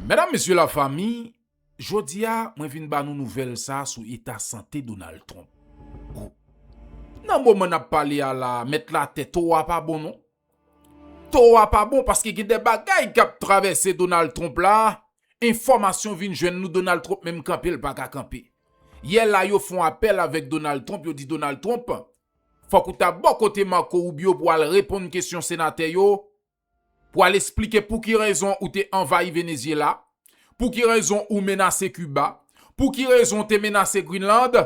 Medam mesye la fami, jodi a mwen vin ba nou nouvèl sa sou eta sante Donald Trump. Bon, nan moman nap pale a la mèt la tè to a pa bon non. To a pa bon paske gen de bagay kap travèse Donald Trump la, enfòmasyon vin jwenn nou Donald Trump menm kanpe l paka kanpe. Yè la yo fon apèl avèk Donald Trump yo di Donald Trump fòk ou ta bò kote Marco Rubio pou al reponn kesyon senatè yo pou al esplike pou ki rezon ou te anvayi Venezyela, pou ki rezon ou menase Kiba, pou ki rezon ou te menase Greenland,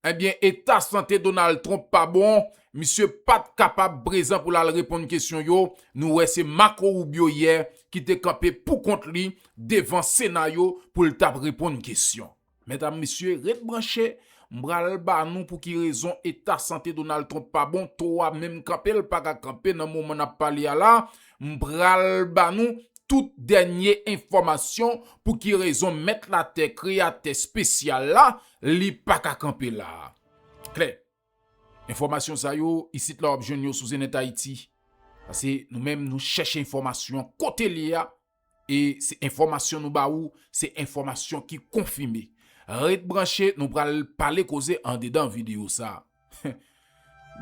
ebyen eta sante Donald Trump pa bon, misye pat kapab prezan pou l al reponn kesyon yo, nou wè se Marco Rubio yè ki te kanpe pou kont li devan Sena yo pou l tap reponn kesyon. Medam mesye ret branche m pral ba nou pou ki rezon eta sante Donald Trump pa bon to a menm kanpe l paka kanpe nan moman nap pale a la m pral ba nou tout dènye enfòmasyon pou ki rezon mèt latè kreyatè spesyal la li paka kanpe la a klè enfòmasyon sa yo isit la wap jwenn yo sou zenètayiti pase nou menm nou chèche enfòmasyon kote li a E se enfòmasyon nou ba ou, se enfòmasyon ki konfime. Ret branche, nou pral pale koze andedan videyo sa.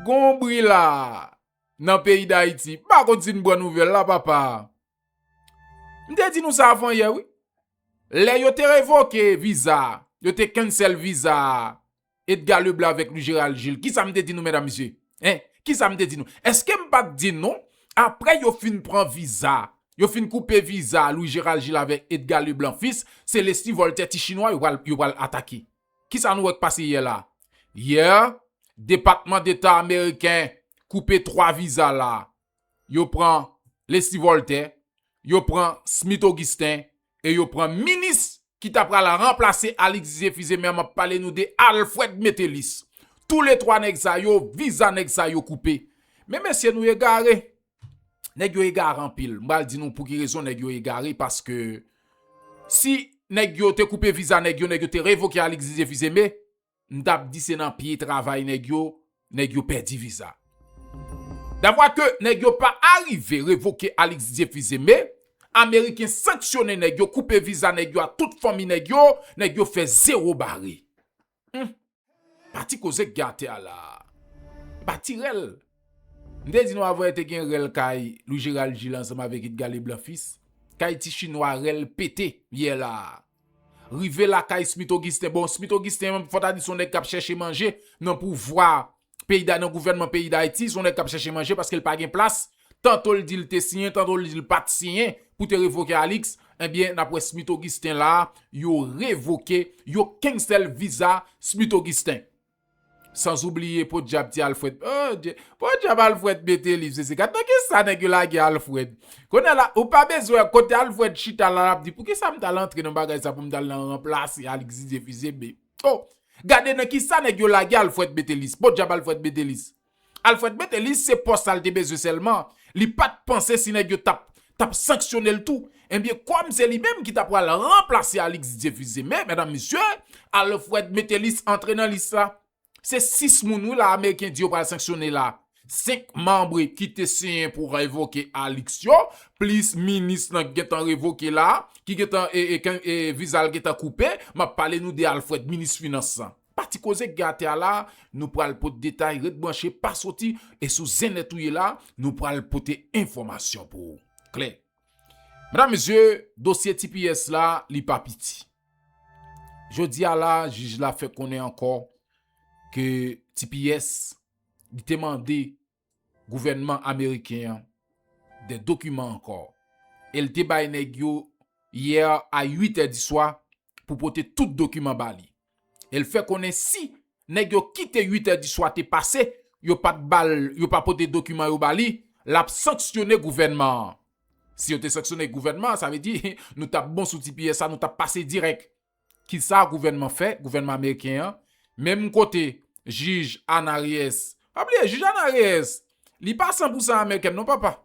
Gon bri la nan peyi Dayiti. M pa konn si n pran nouvèl la papa. M te di nou sa avan yè wi. Lè yo te revoke viza, yo te cancel viza Edgar Leblanc avèk Louis Gérald Gilles. Kisa m te di nou medam mesye? Hein? Kisa m te di nou? Eske m pat di nou aprè yo fin pran viza, yo fin koupe viza Louis Gérald Gilles avèk Edgar Leblanc Fils, se Leslie Voltaire ti chinwa yo pral yo pral atake. Kisa nou wè k pase yè la? Yè, depatman deta ameriken koupe 3 viza la. Yo pran Leslie Voltaire, yo pran Smith Augustin, e yo pran minis ki ta pral ranplase Alix Zephyzemer map pale nou de Alfred Metellus tou le 3 nèg sa yo viza nèg sa yo koupe men mesye nou egare nèg yo egare anpil m pral di nou pouki rezon nèg yo egare paske si nèg yo te koupe viza nèg yo nèg yo te revoke Alix Zephyzemer m t ap di se nan pye travay nèg yo nèg yo pèdi viza. Davwa ke nèg yo pa arive revoke Alix Diefuseme, ameriken sanksyone nèg yo koupe viza nèg yo a tout fanmi nèg yo, nèg yo fè zewo bare. Humm pati koze k gen atè a la a e pa ti rèl. M te di nou avwe te gen rèl kay Louis Gerald Gilles ansanm avèk Edgard Leblanc fils, kay ti chinwa rèl pete yè la a. Rive lakay Smith Augustin, bon Smith Augustin fò ta di son nèg kap chèche manje nan pouvwa peyi da nan gouvènman peyi dayiti, son nèg kap chèche manje paske l pa gen plas, tanto l di l te siyen tanto l di l pat siyen pou te revoke Alix, ebyen nap wè Smith Augustin la yo revoke yo kensèl viza Smith Augustin. Sans oubliye podyab ti Alfred oh Dye podyab Alfred mete liv sese gad nan ki sa nèg yo lage Alfred kounye la ou pa bezwen kote Alfred chita la lap di pou kisa m tal antre nan bagay sa pou m tal nan ranplase Alix Didier Fils-Aimé oh gade nan ki sa nèg yo lage Alfred Métellus podyab Alfred Métellus. Alfred Métellus se pòs sa l te bezwen sèlman, li pa t panse si nèg yo t ap t ap sanksyone l tou. Ebyen kòm se li menm ki t apral ranplase Alix Didier Fils-Aimé, medam mesye, Alfred Métellus antre nan lis la. Se 6 moun wi la ameriken di yo pral sanksyone la, 5 manm ki te siyen pou revoke Alix yo, plis minis lan ki gen tan revoke la, ki gen tan viza l gen tan koupe, m ap pale nou de Alfred, minis finans lan. Pa ti koze k gen atè a la a, nou pral pot detay ret branche pa soti e sou zen nèt ou ye la a nou pral pote enfòmasyon pou ou klè. Medam mesye dosye tps la li pa piti. Jodi a la a jij la fè konnen ankò ke tps li te mande gouvènman ameriken an de dokiman ankò e l te bay nèg yo yè a 8 è diswa pou pote tout dokiman ba li e l fè konnen si nèg yo kite 8 è diswa te pase yo pa t ba l yo pa pote dokiman yo ba li l ap sanksyone gouvènman an si yo te sanksyone gouvènman an sa vle di nou t ap bon sou ti piyè sa nou t ap pase dirèk. Ki sa gouvènman fè, gouvènman ameriken an, menm kote jij Ana Reyes, pa bliye jij Ana Reyes, li pa san pou san amerikèn non papa.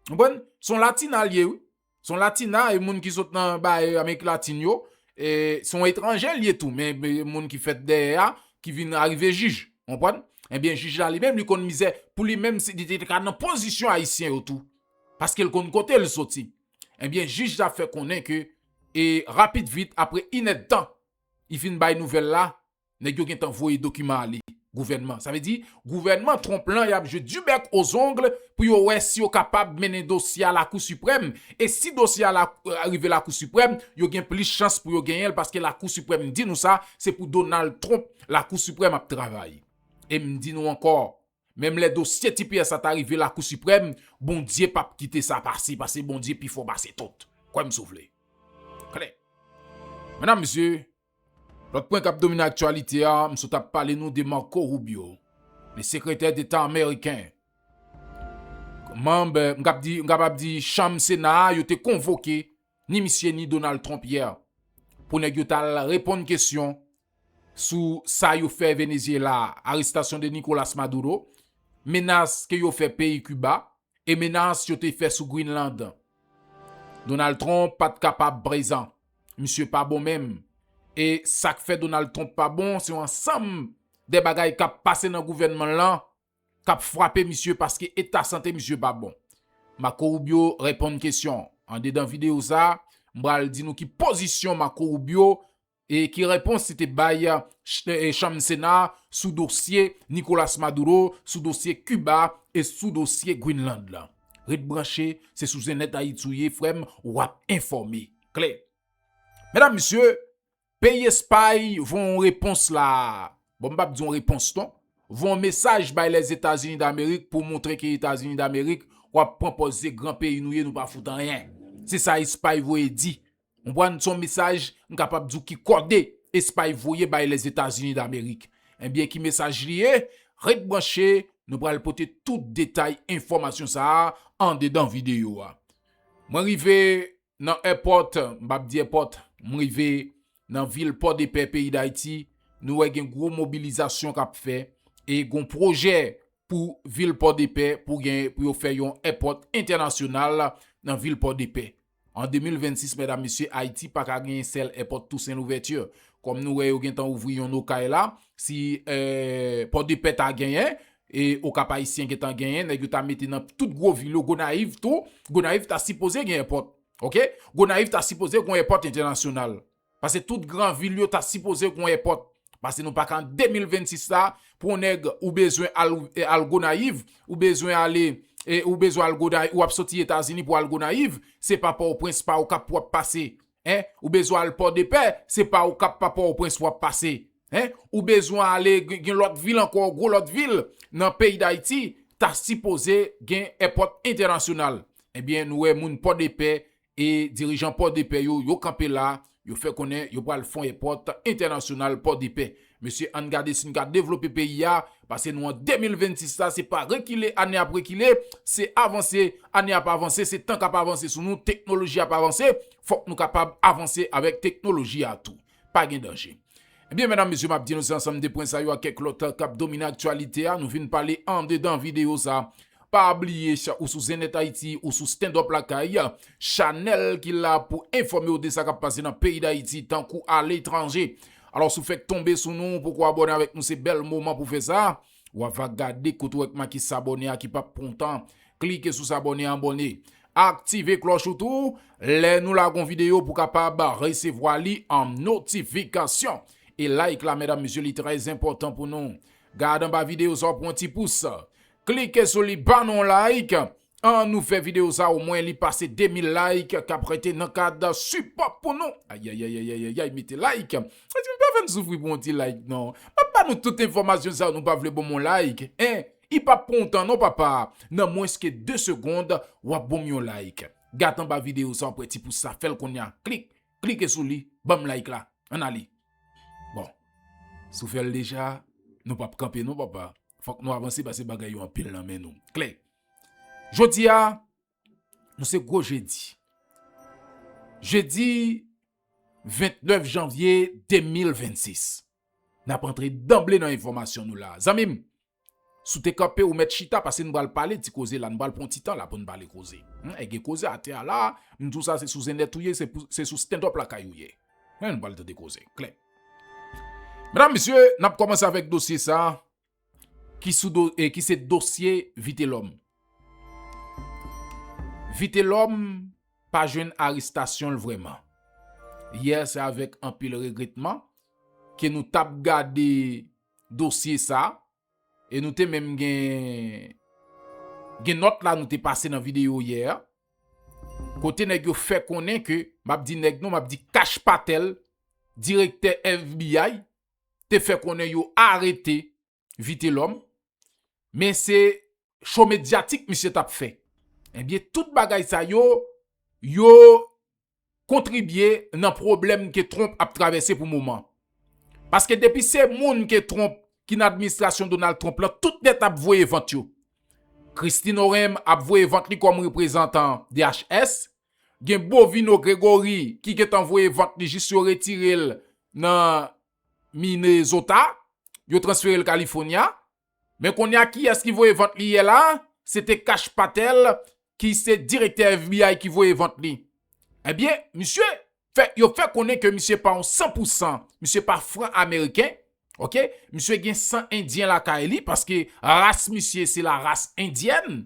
Konprann? Son latina li ye wi. Son latina, yon moun ki sot nan bay amerik latin yo, e son etranje li ye tou, men moun ki fèt dèyè a, ki vin arive jij. Konprann? Ebyen jij la li menm li konn mizè pou li menm si li te ka nan pozisyon ayisyen yo tou. Paske l konn kote l soti. Ebyen jij la fè konnen ke e rapid vit apre inèdtan li fin bay nouvèl la nèg yo gentan voye dokiman ale gouvènman sa vle di gouvènman Trump lan yap jwe du bec aux ongles pou yo wè si yo kapab mennen dosye a lakou siprèm e si dosye a rive lakou siprèm yo gen plis chans pou yo genyenl paske lakou siprèm di nou sa se pou Donald Trump lakou siprèm ap travay em di nou ankò Menm lè dosye ti Pierre sa ta rive lakou siprèm, Bondye pap kite sa pase pase Bondye pi fò pase tout. Kwè m si w vle. Klè. Medam mesye, lòt pwen k ap domine aktyalite a, m sot ap pale nou de Marco Rubio, le sekretè deta ameriken. Manm, m kab di, m kapab di chanm sena a yo te konvoke. ni misye ni Donald Trump yè pou nèg yo t al reponn kesyon sou sa yo fè Venezyela a, arestasyon de Nicolas Maduro, menas ke yo fè peyi Kiba e menas yo te fè sou Greenland. Donald Trump pa t kapab prezan. Misye pa bon menm. E sa k fè Donald Trump pa bon se yon ansanm de bagay k ap pase nan gouvènman l lan kap fwape misye paske eta sante misye pa bon. Marco Rubio reponn kesyon. Andedan videyo sa, m pral di nou ki pozisyon Marco Rubio e ki repons li te bay chanm sena sou dosye Nicolas Maduro, sou dosye Kiba e sou dosye Greenland lan. Ret branche, se sou Zenèt Ayiti ou ye frè m, wap enfòme. Klè! Medam mesye! Peyi Espay voye yon repons la a, bon m pap di yon repons non, voye yon mesaj bay Lèzetazini Damerik pou montre ke Etazini Damerik wap pran pòz se gran peyi nou ye nou pa fout anyen. Se sa Espay voye di. Konprann? Se yon mesaj m kapab di w ki kòde Espay voye bay Lèzetazini Damerik. Ebyen ki mesaj li ye? Ret branche, nou pral pote tout detay enfòmasyon sa a andedan videyo a. Mwen rive Nan èpòt, m pa p di èpòt, m rive nan vil Pòdepè peyi Dayiti, nou wè gen gwo mobilizasyon k ap fè e gon pwojè pou vil Pòdepè pou gen pou yo fè yon èpòt entènasyonal nan vil Pòdepè. An 2026 mèdam mesye Ayiti pa ka gen sèl èpòt Toussaint Louverture. Kòm nou wè yo gen tan ouvri yon Okay la, si Pòdepè ta genyen, E okap ayisyen gentan genyen nèg yo ta mete nan tout gwo vil yo gonayiv tou gonayiv ta sipoze gen èpòt ok gonayiv ta sipoze gon èpòt entènasyonal pase tout gran vil yo ta sipoze gon èpòt pase nou paka an 2026 la pou on nèg ou bezwen al al gonayiv ou bezwen ale e ou bezwen al gonayiv ou ap soti etazini pou al gonayiv se pa pòtoprens pa okap pou wap pase Hein ou bezwen al pòdepè se pa ou kap pa pòoprens wap pase hein ou bezwen ale gen lòt vil ankò gwo lòt vil nan peyi dayiti ta sipoze gen èpòt entènasyonal ebyen nou wè moun pòdepè e dirijan pòdepè yo yo kanpe la yo fè konnen yo pral fon èpòt entènasyonal pòdepè Mesye ann gade si n ka devlope peyi a, pase nou an 2026 la se pa rekile ane ap rekile, se avanse, ane ap avanse, se tan k ap avanse sou nou, teknoloji ap avanse, fòk nou kapab avanse avèk teknoloji a tou. Pa gen danje. Ebyen medam mesye m ap di nou se ansanm de pwen sa yo ak kèk lòt k ap domine aktyalite a nou vin pale andedan videyo sa. Pa bliye ou sou Zennet Ayiti, ou sou Standup Lakay, chanèl ki la pou enfòme w de sa k ap pase nan peyi Dayiti tankou aletranje. Alos ou fek tonbe sou nou poko abone avek nou se bel moman pou fe sa, wa va gade kote ou wè k make sabone a ki pap pran w tan klike sou sabone abone aktive kloch ou tou lè nou lagon video pou kapab resevwa li an notifikasyon e like la medam mesye li trè enpotan pou nou gad anba video sa w pran ti pous klike sou li ban nou like An nou fè video sa o mwen li pase 2000 like kap rete nan kad sipò pou nou ayayayayayayay mete like mezanmi pa fèm soufri pou yon ti like non map ba nou tout enfòmasyon sa nou pa vle bonm yon like en i pap pran w tan non papa nan mwens ke 2 segond wap bonm yon like gad anba video sa wap wè ti pous sa fèl kounya klik klike sou li banm like la an ale bon si w fèl deja nou pap kanpe non papa. Fòk nou avanse pase bagay yo anpil nan men nou. Klè. Jodi a, nou se gwo jedi. Jedi 29 janvye 2026. N ap antre danble nan enfòmasyon nou la. Zanmi m, si w te kanpe ou mèt chita pase nou pral pale ti koze la. Nou pral pran ti tan la pou nou pale koze. E gen koze atè a la. M di w sa se sou zennèt ou ye, se sou standup lakay ou ye. Men nou pral tande koze klè. Medam mesye, n ap kòmanse avèk dosye sa a ki sou do e ki se dosye Vitelòm. Vitelòm pa jwenn arestasyon l vrèman. Yè se avèk anpil regretman ke nou t ap gade dosye sa a. E nou te menm gen gen nòt la nou te pase nan videyo yè a. Kote nèg yo fè konnen ke, m ap di nèg non, m ap di Kash Patel, direktè FBI, te fè konnen yo arete Vitelòm. Men se show medyatik misye tap fè. Ebyen tout bagay sa yo, yo kontribye nan pwoblèm ke Trump ap travèse pou moman. Paske depi se moun ke Trump ki nan administrasyon Donald Trump lan, tout nèt ap voye vant yo. Kristi Noem ap voye vant li kòm reprezantan DHS, gen Bovino Gregory ki gentan voye vant li jis yo retire l nan Minnesota, yo transfere l California. Men konnya kiyès ki voye vant li yè la? Se te Kash Patel ki se direktè FBI ki voye vant li. Ebyen, misye fè, yo fè konnen ke misye pa yon san pou san, misye pa fran ameriken, ok, misye gen san endyen lakay li paske ras misye se la ras endyèn.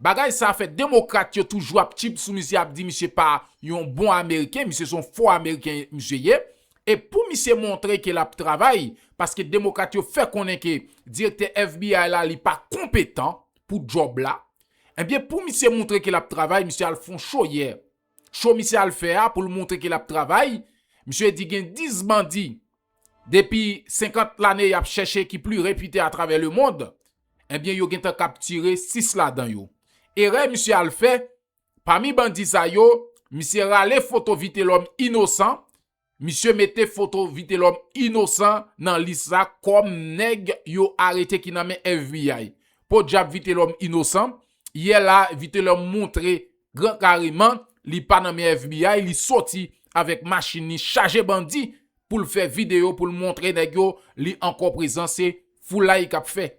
Bagay sa fè demokrat yo toujou ap tchip sou misye ap di misye pa yon bon ameriken, misye son fo ameriken misye ye. E pou misye montre ke lap travay, paske demokrat yo fè konnen ke direktè FBI la li pa konpetan pou djòb la, ebyen pou misye moutre ke lap travay misye al fon show yè. Show misye al fè a poul moutre ke lap travay, misye di gen 10 bandi depi 50 lane yap chèche ki pli repite atravè lemond, ebyen yo gentan kaptire 6 ladan yo. Erè misye al fè, Pami bandi sa yo, misye rale foto Vitelòm inosan, misye mete foto Vitelòm inosan nan lis la kòm nèg yo arete ki nan men FBI. Podyab Vitelòm inosan, yè la Vitelòm montre gran kareman li pa nan men FBI, li soti avèk machin li chaje bandi pou l fè videyo pou l montre nèg yo li ankò prezan se foulay k ap fè.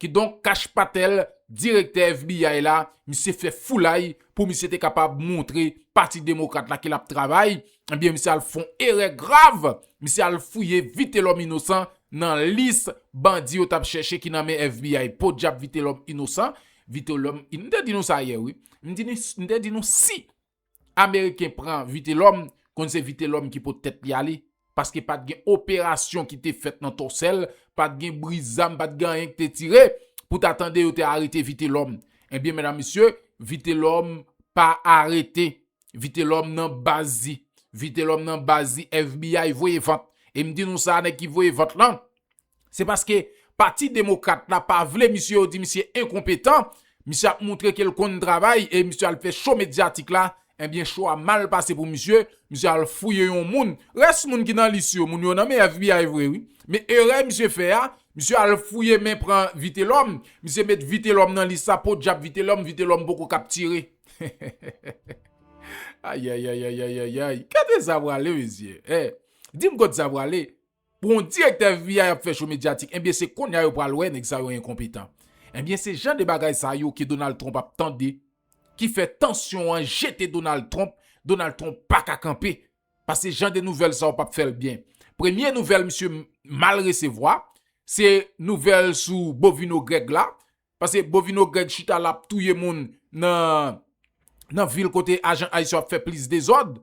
Kidonk Kash Patel, direktè FBI la, misye fè foulay pou misye te kapab montre pati demokrat la ke lap travay, ebyen misye al fon erè grav, misye al fouye Vitelòm Inosan nan lis bandi yo tap chèche ki nan men FBI. Podyab Vitelòm Inosan, Vitelòm, m te di nou sa yè wi, m te di nou si Ameriken pran Vitelòm, konn se Vitelòm ki pot tèt li ale, paske pa t gen operasyon ki te fèt nan Tòsèl, pa t gen bri zam, pa t gen anyen ki te tire, pou ta tande yo te arete Vitelòm. Ebyen, medam mesye, Vitelòm pa arete. Vitelòm nan baz li. Vitelòm nan baz li FBI voye vant. E m di nou sa, nèg ki voye vant lan, Se paske pati demokrat la pa vle misye yo di misye enkonpetan, misye ap moutre ke l konn travay e misye al fè show medyatik la, ebyen show a mal pase pou misye, misye al fouye yon moun, rès moun ki nan lis yo, moun yo nan men FBI vre wi, men erè misye fè a, misye al fouye men pran Vitelòm, misye met Vitelòm nan lis la, podyab Vitelòm, Vitelòm poko kaptire. Ayayayayayayayay, kote sa prale mesye? Hey, di m kot sa prale? Pou yon direktè fbi ap fè cho medyatik enbyen se konnya yo pral wè nèg sa yo enkonpetan. Enbyen se jan de bagay sa yo ke Donald Trump ap tande ki fè tansyon an jete Donald Trump, Donald Trump paka kanpe pase jan de nouvèl sa yo pap fèl byen. Premye nouvèl misye mal resevwa se nouvèl sou Bovino Greg la pase Bovino Greg chita la ap touye moun nan nan vil kote ajan ice yo ap fè plis dezòd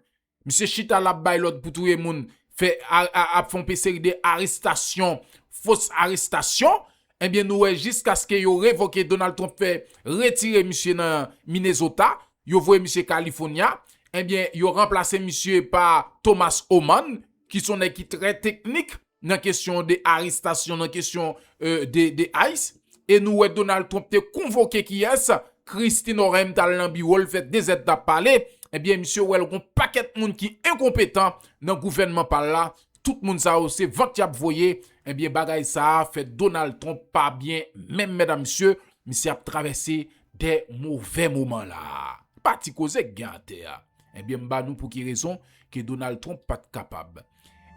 Misye chita la ap bay lòd pou touye moun, fè ap fè yon pe seri de arestasyon, fos arestasyon, enbyen nou wè jiskaske yo revoke Donald Trump fè retire misye nan Minnesota, yo voye misye California, enbyen yo ranplase misye pa Thomas Homan ki son nèg ki trè teknik. nan kesyon de arestasyon, nan kesyon de ice, e nou wè Donald Trump te konvoke kiyès, Christie Norem tal nan biwol fè 2 zèd tap pale, ebyen misye wèl gon pakèt moun ki enkonpetan nan gouvènman pal la, tout moun sa yo se vant yap voye, ebyen bagay sa fè Donald Trump pa byen menm mèdam mesye, misye ap travèse de movè moman la. Pa ti koze k gen atè a. Ebyen m ba nou pou ki rezon ke Donald Trump pat kapab.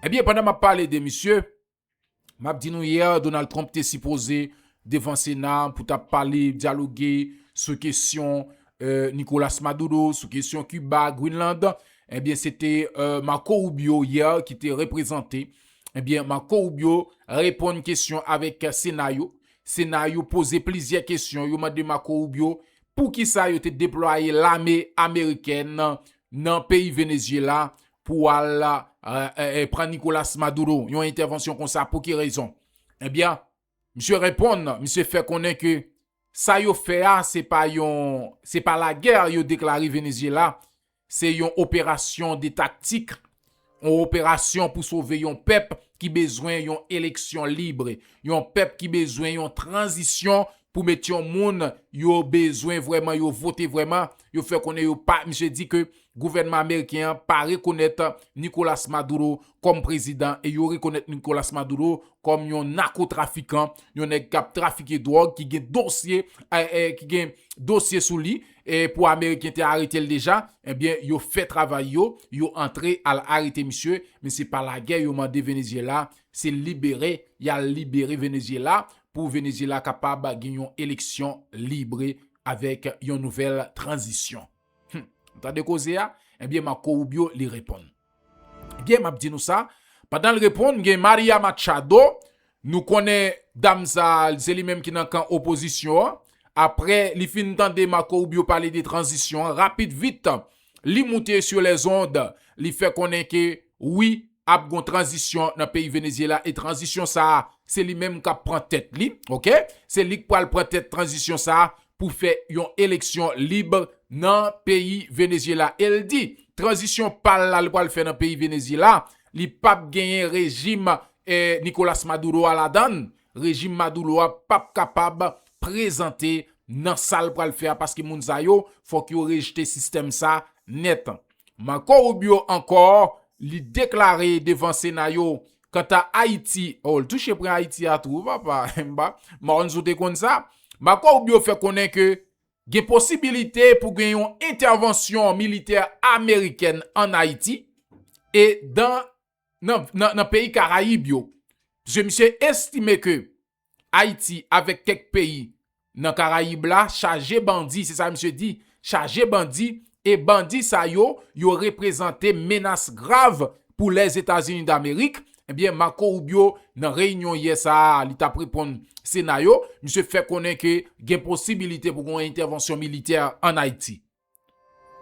Ebyen pandan map pale de misye, map di nou hier Donald Trump te sipoze devan sena pou ta pale, dyaloge sou kesyon Nicolas Maduro, sou kesyon Cuba, Greenland, ebyen se te Marco Rubio hier ki te reprezante, ebyen Marco Rubio reponn kesyon avek sena yo, sena yo poze plizyè kesyon, yo mande Marco Rubio poukisa yo te deplwaye lame Amerikèn nan peyi Venezuela pou w al pran Nicolas Maduro yon entèvansyon konsa pou ki rezon? Ebyen, misye reponn, misye fè konnen ke sa yo fè a se pa yon, se pa lagè yo deklare Venezyela, se yon operasyon de taktik, yon operasyon pou sove yon pèp ki bezwen yon eleksyon lib, yon pèp ki bezwen yon tranzisyon pou met yon moun yo bezwen vrèman, yo vote vrèman, yo fè konnen yo pa, misye di ke Gouvènman ameriken an pa rekonèt Nicolas Maduro kòm prezidan e yo rekonèt Nicolas Maduro kòm yon nakotrafikan, yon nèg k ap trafike dwòg ki gen dosye ki gen dosye sou li e pou ameriken te arete l deja. Ebyen yo fè travay yo, yo antre al arete misye men se pa lagè yo mande Venezyela, se libere y al libere Venezyela pou Venezyela kapab gen yon eleksyon libre avèk yon nouvèl tranzisyon. Hum! Ou tande koze a? Ebyen Marco Rubio li reponn. Ebyen map di nou sa, pandan l reponn gen Maria Machado, nou konnen dam sa se li menm ki nan kan opozisyon an, aprè li fin tande Marco Rubio pale de tranzisyon an, rapid vit li moute sur les ondes li fè konnen ke wi, ap gon tranzisyon nan peyi Venezyela e tranzisyon sa a se li menm kap pran tèt li ok se lik pwal pran tèt tranzisyon sa a pou fè yon eleksyon lib nan peyi Venezyela el di tranzisyon pal la li pwal fè nan peyi Venezyela li pap genyen rejim Nicolas Maduro a ladann rejim Maduro a pap kapab prezante nan sal pwal fè a paske moun sa yo fòk yo rejte sistèm sa nèt Marco Rubio ankò, li deklare devan sena yo, kanta Ayiti, oh l touche pran Ayiti a tou papa, enba, Maronnes ou te konn sa? Marco Rubio fè konnen ke gen posibilite pou gen yon entèvansyon militè amerikèn an Ayiti e nan peyi Karayib yo. Pske misye estime ke. Ayiti avèk kèk peyi nan Karayib la chaje bandi, se sa misye di, chaje bandi e bandi sa yo, yo reprezante menas grav pou Lèzetazini Damerik. Ebyen Marco Rubio nan reyinyon yè sa a li t ap reponn Sena yo, misye fè konnen ke gen posibilite pou gen yon entèvansyon militè an Ayiti.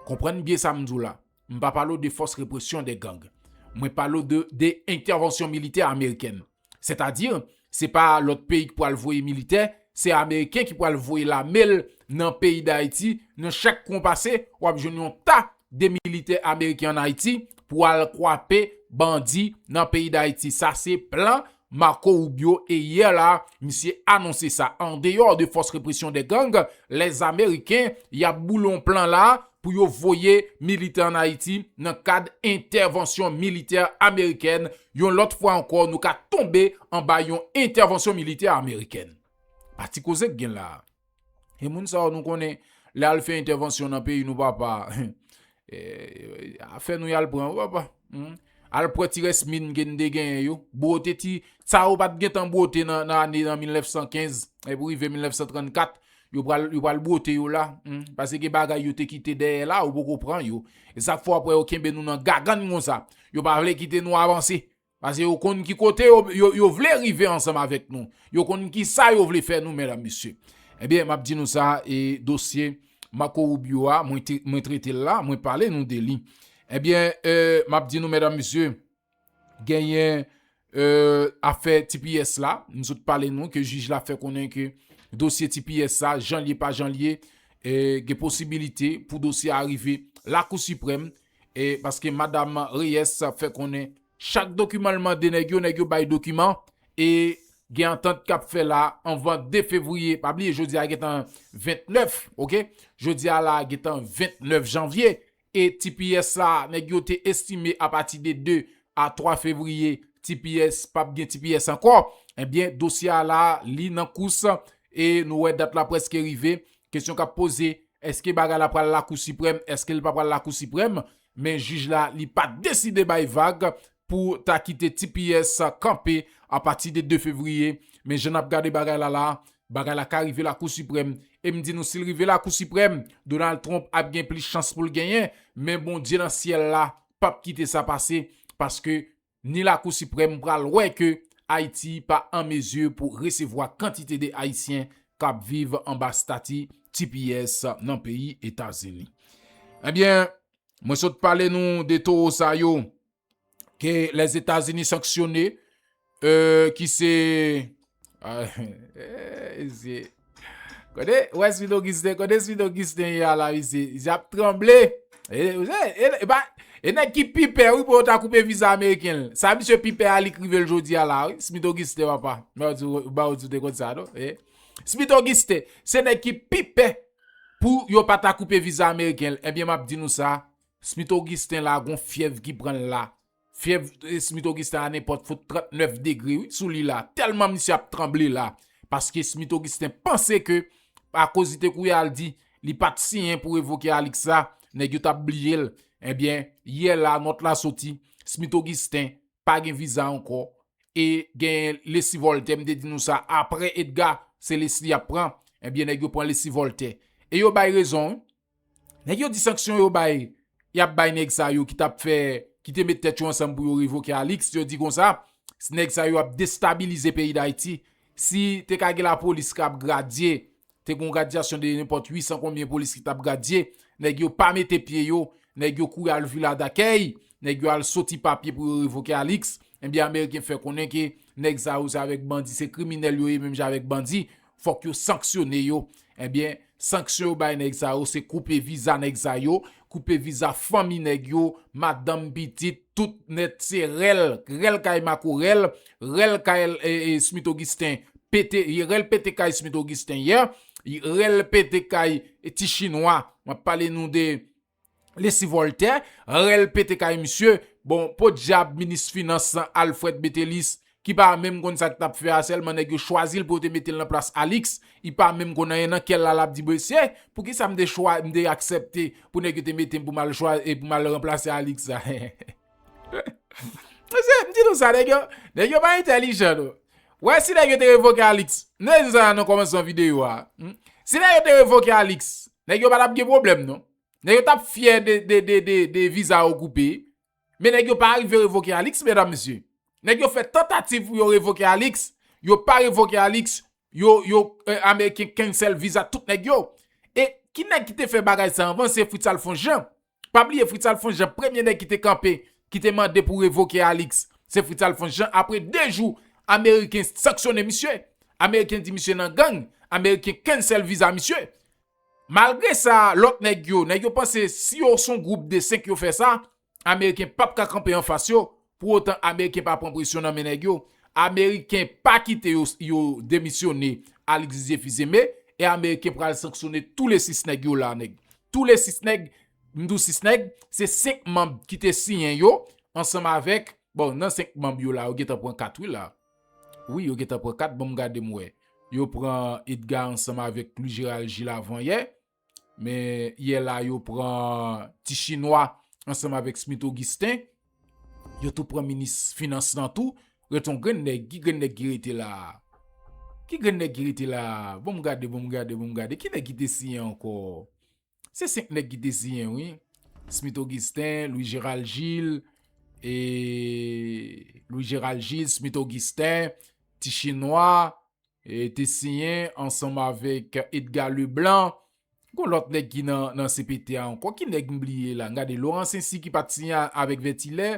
Konprann byen sa m di w la, m pa pale w de fòs represyon de gang. Mwen pale w de entèvansyon militè amerikèn. Sètadi, se pa lòt peyi ki pral voye militè, se ameriken ki pral voye lame l nan peyi Dayiti, nan chak kwen w pase, w ap jwenn yon ta de militè ameriken ann Ayiti pou al kwape bandi nan peyi Dayiti. Sa se plan Marco Rubio e yè la misye anonse sa andeyò de fòs represyon dè gang les ameriken yap boule yon plan la pou yo voye militè an Ayiti nan kad entèvansyon militè amerikèn yon lòt fwa ankò nou ka tonbe anba yon entèvansyon militè amerikèn pa ti koze k gen la. E moun sa yo nou konnen, lè al fè entèvansyon nan peyi nou papa, a fè nou yal pran ou papa. Hmm? Al pran ti rès min gen de gen yo, bwote ti, sa yo pat gen tan bwote nan ane nan 1915, e pou rive 1934, yo pral bwote yo la, hmm? pase gen bagay yo te kite dèyè la, ou poko pran yo. E sa fò apre yo kenbe nou nan gagann kon sa, yo pa vle kite nou avanse. Pase yo konn ki kote yo vle rive ansanm avèk nou. Yo konn ki sa yo vle fè nou, mèdam, mesye. Ebyen, m ap di nou sa, e dosye Marco Rubio a, mwen trete l la, mwen pale nou de li. Ebyen, m ap di nou, mèdam, mesye, genyen afè tps la, m sot pale nou ke jij la fè konnen ke dosye tps sa, jan l ye pa jan l ye, gen posibilite pou dosye a rive lakou siprèm. E paske madam Reyes fè konnen chak dokiman l mande nèg yo, nèg yo bay dokiman e gen antant k ap fè la anvan 2 fevriye. Pa bliye jodi a gentan 29 ok, jodi a la gentan 29 janvye e tps la nèg yo te estime apati de 2 a 3 fevriye tps pa p gen tps ankò. Ebyen dosye a la li nan kous e nou wè dat la prèske rive Kesyon kap poze, eske bagay la pral lakou siprèm, eske li pa pral lakou siprèm, men jij la li pa deside bay vag pou ta kite tps kanpe apati de 2 fevriye, men jan nap gade bagay la la, bagay la ka rive lakou siprèm, e m di nou sil rive lakou siprèm, Donald Trump ap gen plis chans poul genyen, men Bondye nan syèl la pap kite sa pase, paske ni lakou siprèm pral wè ke Ayiti pa an mezi pou resevwa kantite de Ayisyen k ap viv anba stati tps nan peyi Etazini. Ebyen, mwen sot pale nou de towo sa yo ke Lèzetazini sanksyone, ki se. Mesye Kote Wes Phil Augustin Kote Phil Augustin ye ala mesye Yap tranble E nèg ki pi pè wi pou yo ta koupe viza ameriken l Sa misye pi pè a li k rive l jodi a la wi Smith Augustin apa Bawout ou te konn sa non Smith Augustin Se nèg ki pi pè Pou yo pa ta koupe viza ameriken l Ebyen map di nou sa Smith Augustin la gon fyèv ki pran l la Fyèv Smith Augustin a nenpòt fout 39 degre wi sou li la, tèlman misye ap tranble la, paske Smith Augustin panse ke akoz li te kouri al di li pa t siyen pou revoke Alix la, nèg yo t ap bliye l, enben, yè la nòt la soti, Smith Augustin pa gen viza ankò, e gen Leslie Voltaire, m te di nou sa, aprè Edgar, se Leslie y ap pran, enben nèg yo pran Leslie Voltaire. E yo bay rezon wi. Nèg yo di sanksyon yo bay yap bay nèg sa yo ki tap fè ki te met tèt yo ansanm pou yo revoke Alix yo di konsa nèg sa yo ap destabilize peyi Dayiti si te ka gen lapolis kap gradye te gon gradyasyon de nenpòt 800 konbyen polis ki tap gradye nèg yo pa mete pye yo nèg yo kouri al vila dakèy nèg yo al soti papye pou yo revoke Alix ebyen ameriken fè konnen ke nèg sa yo se avèk bandi se kriminèl yo ye menm jan avèk bandi Fòk yo sanksyone yo. Ebyen, sanksyon yo bay nèg sa yo se koupe viza nèg sa yo, koupe viza fanmi nèg yo, madanm, pitit, tout nèt se rèl, rèl kay makorèl, rèl kay Smith Augustin pete, rèl pete kay Smith Augustin yè, rèl pete kay ti chinwa, map pale nou de Lesy Voltè, rèl pete kay misye, bon podyab minis finans lan Alfred Metellus ki pa menm konn sa li tap fè a sèlman nèg yo chwazi l pou yo te mete l nan plas Alix, li pa menm konn anyen nan kè l la lap di mesye poukisa m te aksepte pou nèg yo te mete m pou m al ranplase Alix la. Mesye, m di nou sa, nèg yo, nèg yo pa entèlijan non. Ou wè si nèg yo te revoke Alix, m te di nou sa nan kòmansman videyo a. Si nèg yo te revoke Alix, nèg yo pa t ap gen pwoblèm non. Nèg yo t ap fyè de viza yo koupe. Men nèg yo pa arive revoke Alix medam mesye. Nèg yo fè tantativ pou yo revoke Alix, yo pa revoke Alix, yo, yo, ameriken cancel viza tout nèg yo. E ki nèg ki te fè bagay sa anvan se Fritz Alphonse Jean. Pa bliye Fritz Alphonse Jean premye nèg ki te kanpe ki te mande pou revoke Alix se Fritz Alphonse Jean apre 2 jou ameriken sanksyone misye ameriken di misye nan gang ameriken cancel viza misye malgre sa lòt nèg yo nèg yo panse si yo son gwoup de 5 yo fè sa ameriken pap ka kanpe anfas yo Pou otan ameriken pa pran presyon nan men nèg yo, ameriken pa kite yo yo demisyone al egzije fizeme e ameriken pral sanksyone tou le 6 nèg yo la nèg. Tou le 6 nèg, m di w 6 nèg, se 5 manb ki te siyen yo ansanm avèk, bon nan 5 manb yo la yo gentan pran 4 wi la. Wi yo gentan pran 4 banm gade m wè. Yo pran Edga ansanm avèk Louis Gérald Gilles avan yè, Men yè la yo pran ti chinwa ansanm avèk Smith Augustin. Yo tou pran minis finans nan tou. Rete yon grenn nèg. Ki grenn nèg ki rete la a? Ki grenn nèg ki rete la a? Bon m gade, bon m gade, bon m gade. Ki nèg ki te siyen ankò? Se senk nèg ki te siyen wi. Smith Augustin, Louis Gérald Gilles, e Louis Gérald Gilles, Smith Augustin, ti chinwa. te siyen ansanm avèk Edgar Leblanc gon lòt nèg ki nan cpt a ankò ki nèg m bliye la m gade Laurent Censy ki pat siyen avèk Vètilè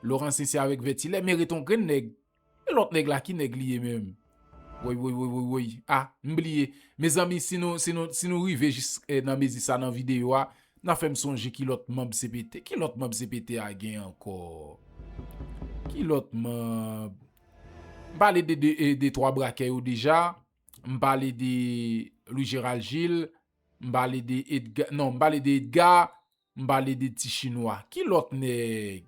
Laurent Censy avèk Vètilè men ret on grenn nèg e lòt nèg la ki nèg li ye menm woywoywoywoy a m bliye mezanmi si nou si nou si nou rive jis nan mezi sa nan videyo a nan fè m sonje ki lòt manb cpt ki lòt manb cpt a gen ankò ki lòt manb. M pale de de twa brakè yo deja, m pale de Louis Gérald Gilles, m pale de Edga, non m pale de Edga, m pale de ti chinwa. Ki lòt nèg?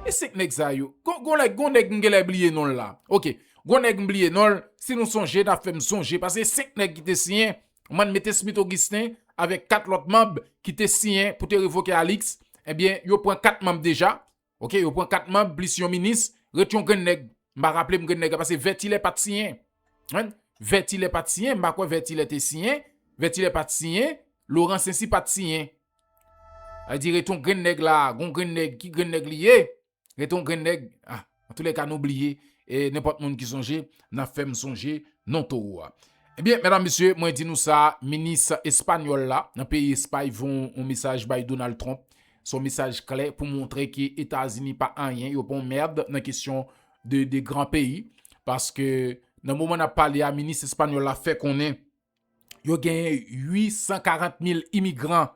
E 5 nèg sa yo? Gon nèg, gon nèg m genlè bliye non l la. Ok, gon nèg m bliye non l, si nou sonje n ap fè m sonje paske e 5 nèg ki te siyen, man mete Smith Augustin avèk 4 lòt manb ki te siyen pou te revoke Alix, ebyen yo pran 4 manb deja, Ok yo pran 4 manb plis yon minis ret yon grenn nèg m pa raple m grenn nèg la pase vètilè pat siyen anh vètilè pat siyen m pa kwè vètilè te siyen vètilè pat siyen loran sensi pat siyen sa di ret yon grenn nèg la gon grenn nèg ki grenn nèg li ye ret yon grenn nèg anh antoulèka nou bliye e nenpòt moun ki sonje nan fèm sonje non towo a ebyen medam mesye mwen di nou sa minis espanyòl la nan peyi espay voye yon mesaj bay donal trump Se yon mesaj klè pou montre ke Etazini pa anyen, yo pa yon merd nan kesyon de 2 gran peyi. Paske nan moman nap pale a, minis espanyòl la fè konnen yo genyen 840 mil imigran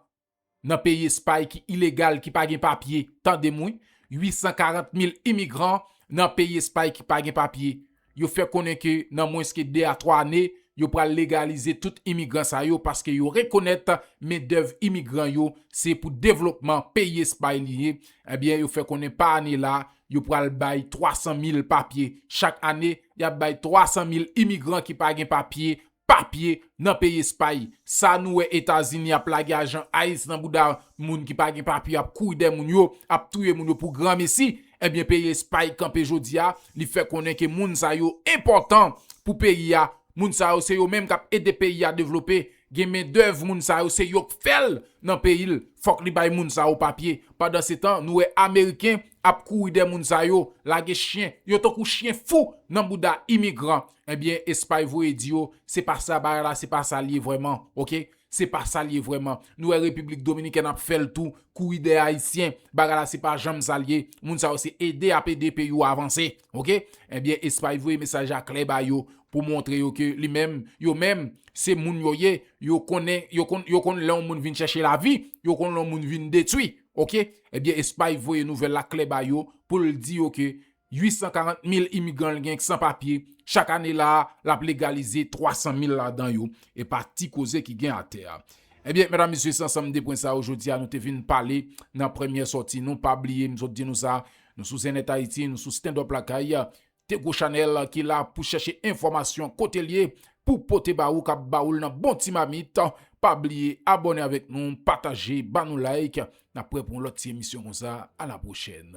nan peyi Espay ki ilegal, ki pa gen papye. Tande m wi, 840 mil imigran nan peyi Espay ki pa gen papye. Yo fè konnen ke nan mwens ke 2 a 3 ane, yo pral legalize tout imigran sa yo paske yo rekonèt mendèv imigran yo se pou devlopman peyi Espay li ye. Ebyen yo fè konnen pa ane la, yo pral bay 300 mil papye. Chak ane, y ap bay 300 mil imigran ki pa gen papye papye nan peyi espay sa nou wè etazini ap lage ajan ice nan bouda moun ki pa gen papye ap kouri dèyè moun yo ap touye moun yo pou granmesi ebyen peyi espay kanpe jodia li fè konnen ke moun sa yo enpòtan pou peyi a moun sa yo se yo menm kap ede peyi a devlope gen men dèv moun sa yo se yok fèl nan peyi l fòk li bay moun sa yo papye pandan se tan nou wè ameriken ap kouri dèyè moun sa yo lage chyen yo tankou chyen fou nan bouda imigran. Ebyen espay voye di yo se pa sa bagay la se pa sa l ye vrèman ok se pa sa l ye vrèman nou wè repiblik dominikèn ap fè l tou kouri dèyè ayisyen bagay la se pa janm sa l ye moun sa yo se ede ap ede peyi yo avanse ok ebyen espay voye mesaj la klè ba yo pou montre yo ke li menm yo menm se moun yo ye yo konnen yo konn yo konn lè yon moun vin chèche lavi yo konn lè yon moun vin detwi ok ebyen espay voye nouvèl la klè ba yo pou l di yo ke 840 mil imigran l gen k san papye, chak ane la a, l ap legalize 300 mil ladan yo, e pa ti koze ki gen atè a. Ebyen, medam, mesye, se ansanm de pwen sa yo jodi a nou te vin pale nan premyè sòti nou. Pa bliye, m sot di nou sa, nou sou Zen Net Haïti, nou sou Standup Lakay, de gwo chanèl ki la pou chèche enfòmasyon kote l ye, pou pote ba ou, k ap ba ou l nan bon ti mamit. Pa bliye abòne avèk nou, pataje, ba nou like, Nap prè pou yon lòt ti emisyon konsa a la pwochèn.